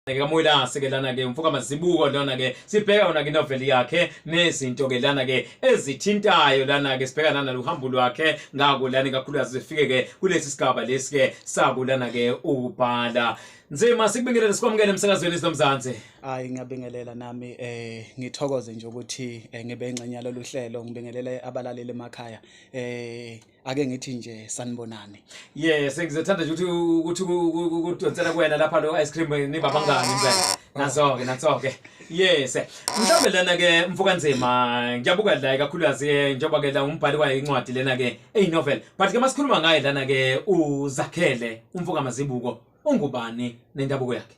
ke kamoyilase ke lana ke umfoka mazibuko lona ke sibheka yona ke noveli yakhe nezinto ke lana ke ezithintayo lana ke sibheka nana luhambo lwakhe ngako lana kakhulukazi sifike ke kulesi sigaba lesi ke sakulana ke ubhala nzima sikubingelele sikwamukele emsakazweni sinomzansi hayi ngiyabingelela nami eh ngithokoze nje ukuthi eh, ngibe ingxenye yalolu hlelo ngibingelele abalaleli emakhaya eh ake ngithi nje sanibonani ye sengizethanda nje ukuthi ukuthi kudonsela kuwena lapha lo ice cream eh, niba bangani ah. impela nazo-ke nazo-ke yes mhlawumbe lena-ke mfokanzima ngiyabuka la kakhulukazi eh, njengoba-ke la umbhali kwayo incwadi lena-ke eyinovel but ke masikhuluma ngaye lana-ke uzakhele umfokamazibuko ungubani nendabuko yakhe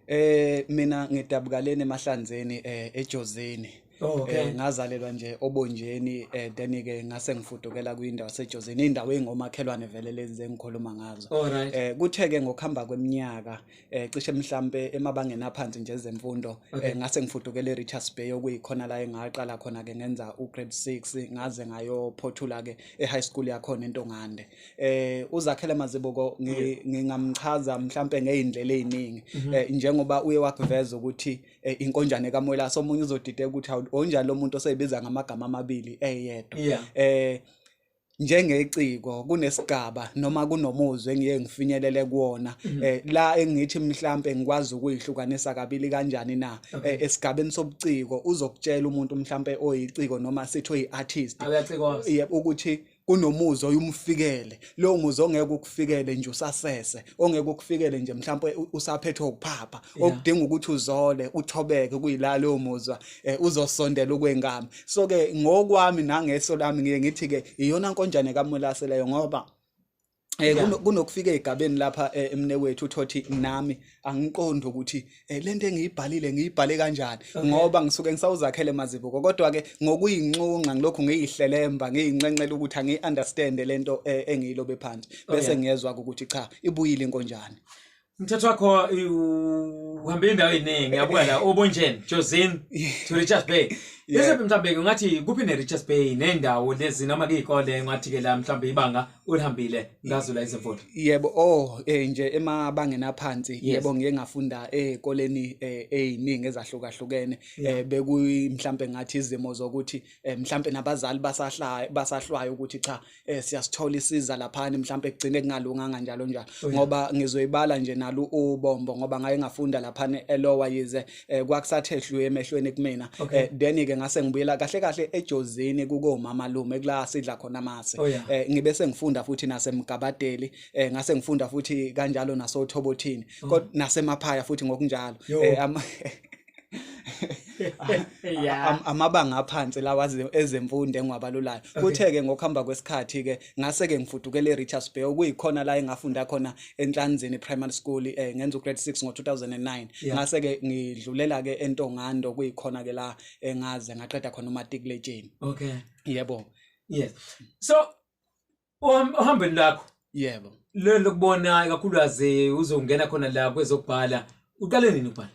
eh mina ngidabukaleni emahlanzeni eh ejozini Oh, okay. Eh, ngazalelwa nje obonjeni eh then ke ngase ngifudukela kwindawo sejozini indawo engomakhelwane vele lezi zengikhuluma ngazo. Alright. Eh kuthe ke ngokuhamba kweminyaka eh cishe mhlambe emabangeni aphansi nje ezemfundo okay. eh ngase ngifudukela eRichards Bay okuyikhona la engaqala khona ke ngenza ugrade 6 ngaze ngayo phothula ke eHigh school yakhona eNtongande. Eh uzakhele mazibuko ngingamchaza mhlambe ngeindlela eziningi mhm. eh njengoba uye wakuveza ukuthi eh, inkonjane kamwelase omunye uzodideka ukuthi hawu onjani lo muntu oseyibiza ngamagama amabili eyedwa Yeah. eh njengeciko kunesigaba noma kunomuzwe engiye ngifinyelele kuwona eh la engithi mhlambe ngikwazi ukuyihlukanisa kabili kanjani na eh, esigabeni sobuciko uzokutshela umuntu mhlambe oyiciko noma sithi oyiartist Awuyacikwa. yebo ukuthi kunomuzi oyumfikele lowo muzi ongeke ukufikele nje usasese ongeke ukufikele nje mhlawumbe usaphethwe ukuphapha okudinga ukuthi uzole uthobeke kuyila lowo muzwa eh, uzosondela ukwengami so ke ngokwami nangeso lami ngiye ngithi ke iyona nkonjane kamulase leyo ngoba Eh kunokufika egabeni lapha eh, emne wethu uthothi nami angiqondi ukuthi eh, lento engiyibhalile ngiyibhale kanjani ngoba ngisuke ngisawuzakhele mazibuko kodwa ke ngokuyinxunxa ngilokhu ngiyihlelemba ngiyinxenxela ukuthi angiyi understand lento eh, engiyilobe phansi oh, bese ngiyezwa ukuthi cha ibuyile inkonjane Umthetho wakho uhambe indawo eningi yabuka la obonjeni Josin to Richards Bay. Bese mhlambe ngathi kuphi ne Richards Bay nendawo lezi noma kuyikole ngathi ke la mhlambe ibanga ulihambile ngazula izimfundo. Yebo oh eh nje emabangeni aphansi yebo ngike ngafunda ezikoleni eh, eziningi eh, ezahlukahlukene eh, bekuyi mhlambe ngathi izimo zokuthi mhlambe nabazali basahlaya basahlwayo ukuthi cha eh siyasithola isiza laphani mhlawumbe kugcine kungalunganga njalo njalo oh, ngoba ngizoyibala nje nalu ubombo ngoba ngaye ngafunda laphani elowa yize eh, kwakusathe dlu emehlweni kumina eh, then ke ngase ngibuyela kahle kahle ejozini kuko mama lume kula sidla khona mase oh, eh, ngibe sengifunda futhi nasemgabadeli ngase ngifunda futhi kanjalo nasothobothini oh. kodwa nasemaphaya futhi ngokunjalo yeah. amabanga aphansi lawa ezemfundo engiwabalulayo kuthe-ke ngokuhamba kwesikhathi-ke ngase-ke ngifudukele e-richards bay okuyikhona la engafunda khona enhlanzini primary school eh, ngenza ugrade six ngo-2009 yeah. ngase-ke ngidlulela-ke entongando kuyikhona-ke la engaze ngaqeda khona umatikuletsheni okay yebo yes so Oham- ohambweni lakho yebo lelo lokubona ikakhulukazi uzongena khona la kwezokubhala uqale nini ukubhala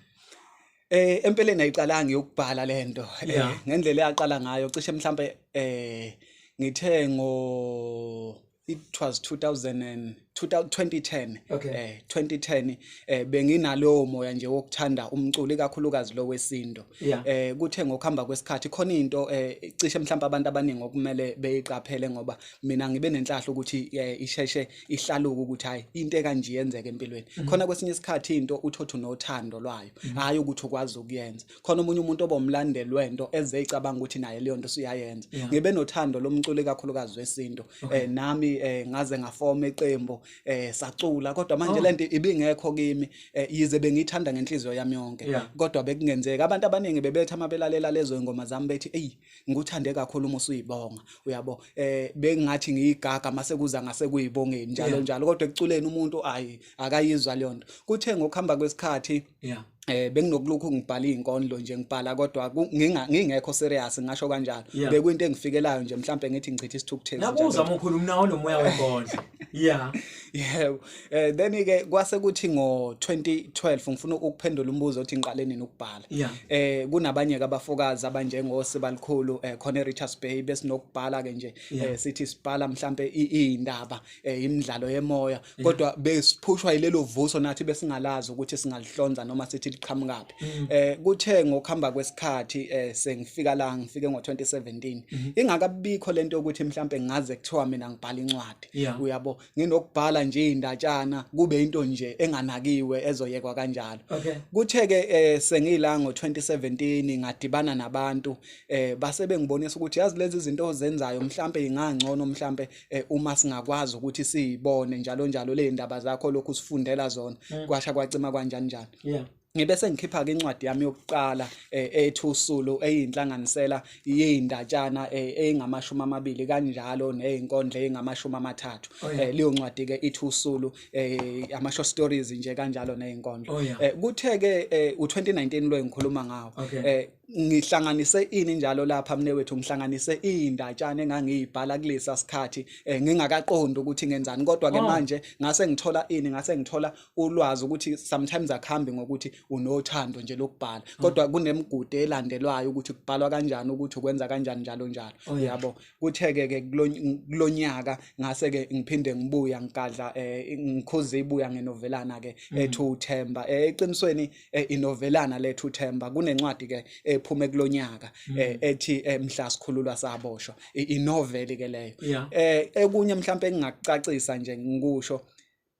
Eh empeleni ayiqalanga yokubhala lento eh, Yeah. ngendlela eyaqala ngayo cishe mhlambe eh ngithe ngo it was 2000 and 2010 Okay. eh 2010 eh benginalowo moya nje wokuthanda umculo ikakhulukazi lo wesinto Yeah. eh kuthe ngokuhamba kwesikhathi khona into eh cishe mhlawumbe abantu abaningi okumele beyiqaphele ngoba mina ngibe nenhlahla ukuthi eh, isheshe ihlaluke ukuthi hayi into ekanje yenzeke empilweni khona kwesinye isikhathi into uthothu nothando lwayo hayi ukuthi ukwazi ukuyenza khona omunye umuntu obomlandeli wento eze icabanga ukuthi naye leyo nto usuyayenza Yeah. ngibe nothando lomculo ikakhulukazi wesinto eh nami eh ngaze ngafoma iqembu eh sacula kodwa manje oh. lento ibingekho kimi eh, yize bengithanda ngenhliziyo yami yonke kodwa bekungenzeka abantu abaningi bebetha amabelalela lezo ingoma zami bethi ey ngikuthande kakhulu uma usuyibonga uyabo eh bengathi ngiyigaga mase kuza ngase kuyibongeni njalo njalo kodwa ekuculeni umuntu ayi akayizwa leyonto kuthe ngokuhamba kwesikhathi yeah eh benginokulokhu ngibhala izinkondlo nje ngibhala kodwa nginga ngingekho serious ngasho kanjalo yeah. bekuyinto engifikelayo nje mhlambe ngithi ngichitha isithukuthezi nje nakuza mkhulu mnawo nomoya wenkondlo yeah yeah eh then ke kwase kuthi ngo 2012 ngifuna ukuphendula umbuzo othi ngiqale nini ukubhala yeah. eh kunabanye ke abafokazi abanjengo Sibalikhulu eh khona eRichards Bay besinokubhala ke nje yeah. eh sithi sibhala mhlambe izindaba eh, imidlalo yemoya mm. kodwa besiphushwa yilelo vuso nathi besingalazi ukuthi singalihlonza noma sithi liqhamukaphi mm. eh kuthe ngokuhamba kwesikhathi eh sengifika la ngifike ngo2017 mm-hmm. ingakabikho lento ukuthi mhlambe ngaze kuthiwa mina ngibhala incwadi uyabo nginokubhala nje indatshana kube into nje enganakiwe ezoyekwa kanjalo kuthe ke eh, sengila ngo2017 ngadibana nabantu eh base bengibonisa ukuthi yazi lezi zinto ozenzayo mhlambe ingangcono mhlambe eh, uma singakwazi ukuthi siyibone njalo njalo le ndaba zakho lokhu sifundela zona mm. kwasha kwacima kanjani njani yeah ngibe sengikhipha ke incwadi yami yokuqala eh, ethi usulu eyinhlanganisela yeindatshana eh, eyingamashumi amabili kanjalo nezinkondla ezingamashumi amathathu oh, eh, leyo ncwadi ke ithi usulu ama short stories nje kanjalo nezinkondla oh, kuthe ke u2019 lo engikhuluma ngawo ngihlanganise ini njalo lapha mne wethu ngihlanganise indatshana engangiyibhala kulesa sikhathi eh, ngingakaqondi ukuthi ngenzani kodwa ke oh. manje ngase ngithola ini ngase ngithola ulwazi ukuthi sometimes akhambi ngokuthi unothando nje lokubhala oh. kodwa kunemigude elandelwayo ukuthi kubhalwa kanjani ukuthi ukwenza kanjani njalo njalo oh, yabo kutheke ke kulonyaka ngase ke ngiphinde ngibuya ngigadla eh, ngikhuza ibuya ngenovelana ke mm. ethu uThemba eh, eqinisweni eh, inovelana lethu Themba kunencwadi ke ephume kulonyaka mm. eh, ethi eh, mhla sikhululwa saboshwa inoveli ke leyo eh ekunye mhlawumbe engingakucacisa nje ngikusho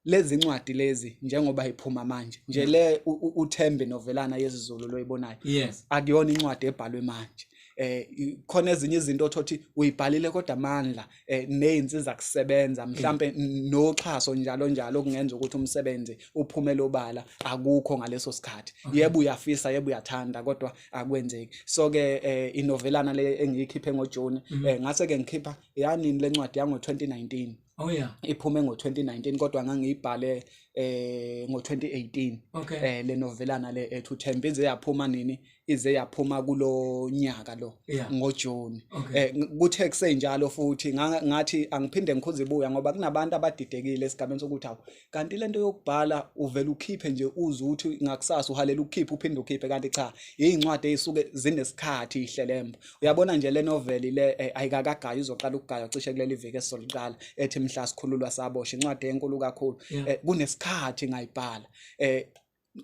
lezi ncwadi lezi njengoba iphuma manje nje le uThembe novelana yesiZulu loyibonayo yes akuyona incwadi ebhalwe manje eh khona ezinye izinto othothi uyibhalile kodwa amandla eh, nezinsiza kusebenza mhlambe noxhaso njalo njalo kungenza ukuthi umsebenzi uphume lobala akukho ngaleso sikhathi yebo uyafisa yebo uyathanda kodwa akwenzeki so ke eh, inovelana le engiyikhiphe ngoJune mhm. eh, ngase ke ngikhipha yanini lencwadi yango 2019 Oh yeah. Iphume ngo-2019 kodwa ngangiyibhale eh ngo-2018 okay. eh le novelana le ethu Thembize yaphuma nini ize yaphuma kulo nyaka lo yeah. ngoJune okay. eh, kuthe kusenjalo futhi ngathi angiphinde ngikhuze ibuya ngoba kunabantu abadidekile esigabeni sokuthi awu kanti lento yokubhala uvela ukhiphe nje uze ukuthi ngakusasa uhalela ukukhipha uphinde ukhiphe kanti cha izincwadi ezisuke zinesikhathi ihlelemba uyabona nje le novel le eh, ayikakagayi uzoqala ukugaya cishe kuleli viki esizoliqala ethi mhla sikhululwa sabosha incwadi enkulu kakhulu yeah. eh, kunesikhathi ngayibhala eh,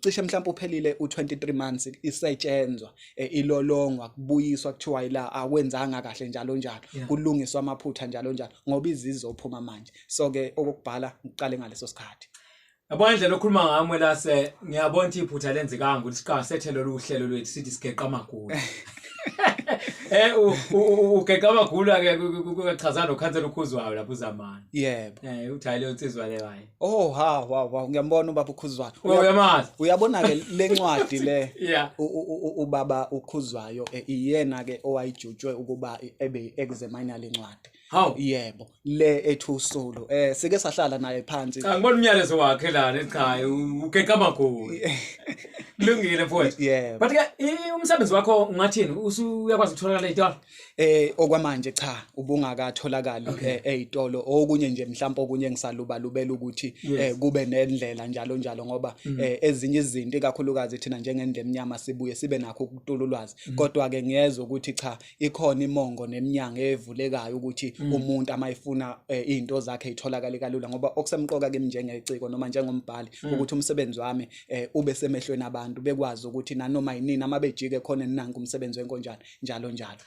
cishe mhlawumbe uphelile u23 months isetshenzwa eh, ilolongwa kubuyiswa kuthiwa ila akwenzanga kahle njalo njalo kulungiswa amaphutha njalo njalo ngoba izizophuma manje so ke okokubhala ngiqale ngaleso sikhathi Yabona indlela okhuluma ngami lase ngiyabona ukuthi iphutha lenzekanga ukuthi siqala sethelwe uhlelo lwethu sithi sigeqa amagulu Eh ugeqa amagulu ake kuchaza nokhansela ukhuzwayo lapho uzamana. Yebo. Eh uthayile unsizwa leyo hayi. Oh ha wa wa ngiyambona ubaba ukhuzwayo. Oh, uyamazi. Uyabona ke lencwadi le. Yeah. Ubaba ukhuzwayo eh, iyena ke owayijutshwe ukuba ebe examine lencwadi. Haw. Yebo. Le ethu solo. Eh sike sahlala naye phansi. Cha ngibona umyalezo wakhe lana ekhaya ukeka magulu. Kulungile mfowethu. Yebo. But ke umsebenzi wakho ungathini? Usuyakwazi ukuthola le dollar? Eh okwamanje cha ubungakatholakali Okay. eh, ezitolo okunye nje mhlawumbe okunye engisalubalubela ukuthi Yes. Mm. eh, kube nendlela njalo njalo ngoba eh, ezinye izinto ikakhulukazi thina njengendle emnyama sibuye sibe nakho ukutula ulwazi Mm. kodwa ke ngiyezwa ukuthi cha ikhona imongo neminyango evulekayo ukuthi Mm. umuntu amayifuna eh, izinto zakhe itholakale kalula ngoba okusemqoka kimi njengeciko noma njengombhali Mm. ukuthi umsebenzi wami eh, ube semehlweni abantu bekwazi ukuthi nanoma yinini amabejike khona ninanku umsebenzi wenkonjana njalo njalo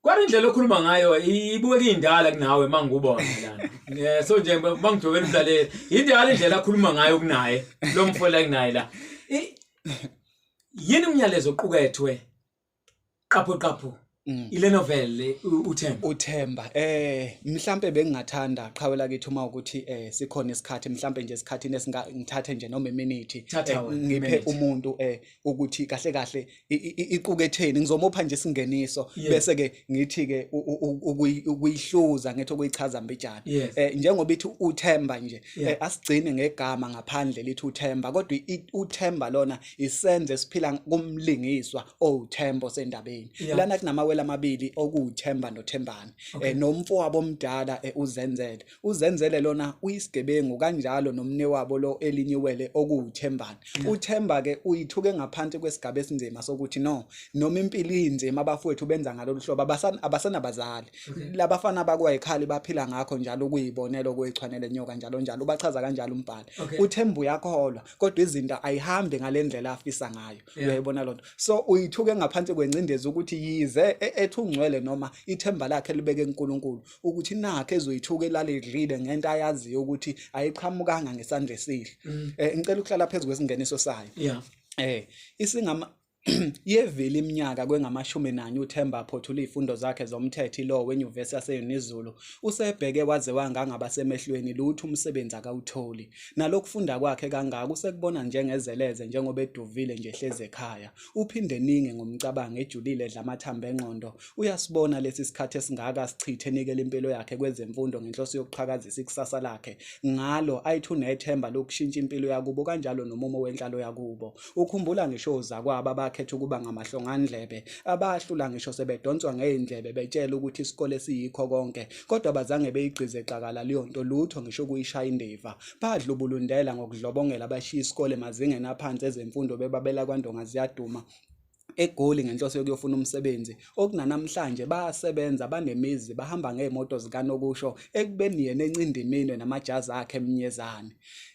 Kwari indlela okhuluma ngayo ibukeka indala kunawe mangikubona lana. Eh so nje mangijobela umlaleli indala indlela akhuluma ngayo kunaye lo mfola kunaye la. Yini umyalezo oqukethwe qapho qapho mm. ile novel uThemba uThemba eh mhlambe bengingathanda qhawela kithi uma ukuthi eh sikhona isikhathi mhlambe nje isikhathi nesingithathe nje noma iminute eh, ngiphe umuntu eh ukuthi kahle kahle iquketheni ngizomopha nje isingeniso bese ke ngithi ke ukuyihluza ngethi okuyichaza mbijana eh, njengoba ithi uthemba nje eh, asigcine ngegama ngaphandle lithi uthemba kodwa uthemba lona isenze esiphila kumlingiswa owuthembo sendabeni lana kunamawele amabili okuthemba nothembani eh, nomfo wabo omdala uzenzele uzenzele lona uyisigebengu kanjalo nomne wabo lo elinyiwele okuwuthembane uthemba ke uyithuke ngaphansi kwesigaba esinzima sokuthi no noma impilo inzima abafowethu benza ngalolu hlobo abasenabazali labafana bakwayikhali baphila ngakho njalo ukuyibonela okuyechwanele nyoka njalo njalo ubachaza kanjalo umbhali uthemba uyakholwa kodwa izinto ayihambi ngalendlela afisa ngayo uyayibona lonto so uyithuke ngaphansi kwengcindezi ukuthi yize e-, ethungcwele noma ithemba lakhe libeke uNkulunkulu ukuthi nakhe ezoyithuka elale idlile ngento ayaziyo ukuthi ayiqhamukanga ngesandla esihle mm. eh ngicela ukuhlala phezulu kwesingeniso sayo yeah eh isingama yevile iminyaka kwengamashumi nanye uThemba aphothula izifundo zakhe zomthetho iLaw weNyuvesi yaseYunizulu usebheke waze wangangaba semehlweni lutho umsebenzi akawutholi nalokufunda kwakhe kangaka usekubona njengezeleze njengoba eduvile nje hleze ekhaya uphinde ninge ngomcabango ejulile edla amathambo engqondo uyasibona lesi sikhathi esingaka sichithe enikela impilo yakhe kwezemfundo ngenhloso yokuqhakazisa ikusasa lakhe ngalo ayithi unethemba lokushintsha impilo yakubo kanjalo nomumo wenhlalo yakubo ukhumbula ngisho uzakwabo abakhetha ukuba ngamahlongandlebe abahlula ngisho sebedonswa ngey'ndlebe betshela ukuthi isikole siyikho konke kodwa bazange beyigqize xakala leyo nto lutho ngisho ukuyishaya indiva badlubulundela ngokudlobongela abashiya isikole emazingeni aphansi ezemfundo bebabela kwandonga ziyaduma egoli ngenhloso yokuyofuna umsebenzi okunanamhlanje bayasebenza banemizi bahamba ngey'moto zikanokusho ekubeni yena encindiminwe namajazi akhe emnyezane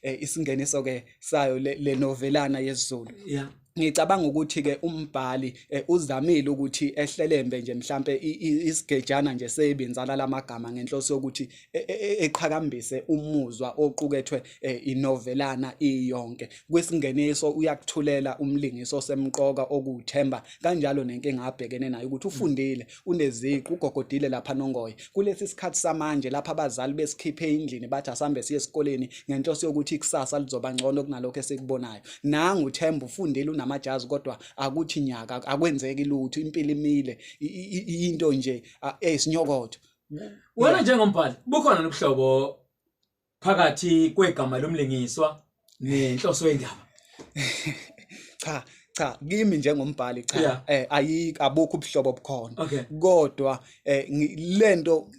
um isingeniso-ke sayo le novelana yesizulu yeah. ngicabanga ukuthi ke umbhali eh, uzamile ukuthi ehlelembe nje mhlambe isigejana nje sebinzala lamagama ngenhloso yokuthi e, e, e, eqhakambise umuzwa oqukethwe eh, inovelana iyonke kwesingeniso uyakuthulela umlingiso semqoka okuthemba kanjalo nenkinga abhekene nayo ukuthi ufundile uneziqu ugogodile lapha nongoye kulesi sikhathi samanje lapha abazali besikhiphe endlini bathi asambe siye esikoleni ngenhloso yokuthi ikusasa lizoba ngcono kunalokho esikubonayo nangu uthemba ufundile unamajazi kodwa akuthi nyaka akwenzeki lutho impilo imile into nje eyisinyokotho wena njengombhali bukhona nobuhlobo phakathi kwegama lomlingiswa nenhloso yendaba cha cha kimi njengombhali cha yeah. eh ayikho abukho ubuhlobo obukhona okay. kodwa eh lento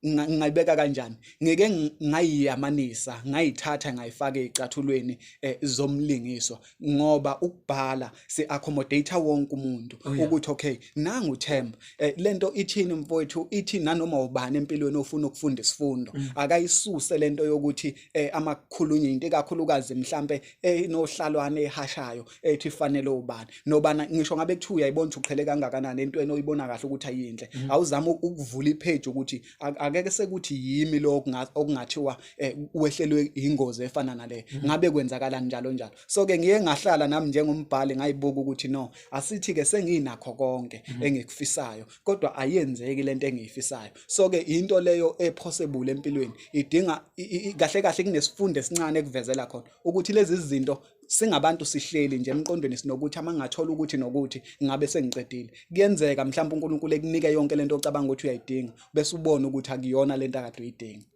ngayibeka kanjani ngeke ngayiyamanisa ngayithatha ngayifaka ezicathulweni eh, zomlingiswa ngoba ukubhala si accommodate wonke umuntu oh, yeah. ukuthi okay nangu Themba eh, lento ithini mfowethu ithi nanoma ubani empilweni ofuna ukufunda isifundo mm. akayisuse lento yokuthi eh, amakhulunye into ekakhulukazi mhlambe enohlalwane eh, ehashayo ethi eh, fanele ubani nobana ngisho ngabe kuthiwa uyayibona uqhele kangakanani entweni oyibona kahle ukuthi ayinhle mm. awuzama ukuvula ipage ukuthi Ak- akeke sekuthi yimi lo okunga- okungathiwa eh, wehlelwe ingozi efana nale ngabe kwenzakala njalo njalo so ke ngiye ngahlala nami njengombhali ngayibuka ukuthi no asithi ke senginakho konke engikufisayo kodwa ayenzeki lento engiyifisayo so ke into leyo epossible empilweni idinga i- i- i- kahle kahle kunesifundo esincane ekuvezela khona ukuthi lezi zinto singabantu sihleli nje emqondweni sinokuthi ama ngathola ukuthi nokuthi ngabe sengiqedile kuyenzeka mhlawumbe uNkulunkulu ekunike yonke lento ocabanga ukuthi uyayidinga bese ubona ukuthi akuyona lento akade uyidinga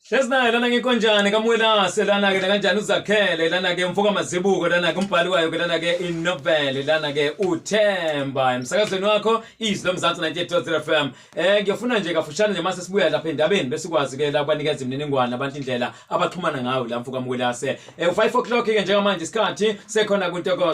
Hlezi naye lana ngikonjani kamwelase lana ke kanjani uzakhele lana ke mfoka mazibuko lana ke umbhali wayo ke lana ke inovel lana ke uthemba emsakazweni wakho izwi lomzansi 98.3 FM Eh ngiyofuna nje kafushane nje mase sibuya lapha endabeni bese kwazi ke la kwanikeza imininingwane abantu indlela abaxhumana ngayo la mfuka mkwelase. Eh 5 o'clock ke njengamanje isikhathi sekhona kuntokozo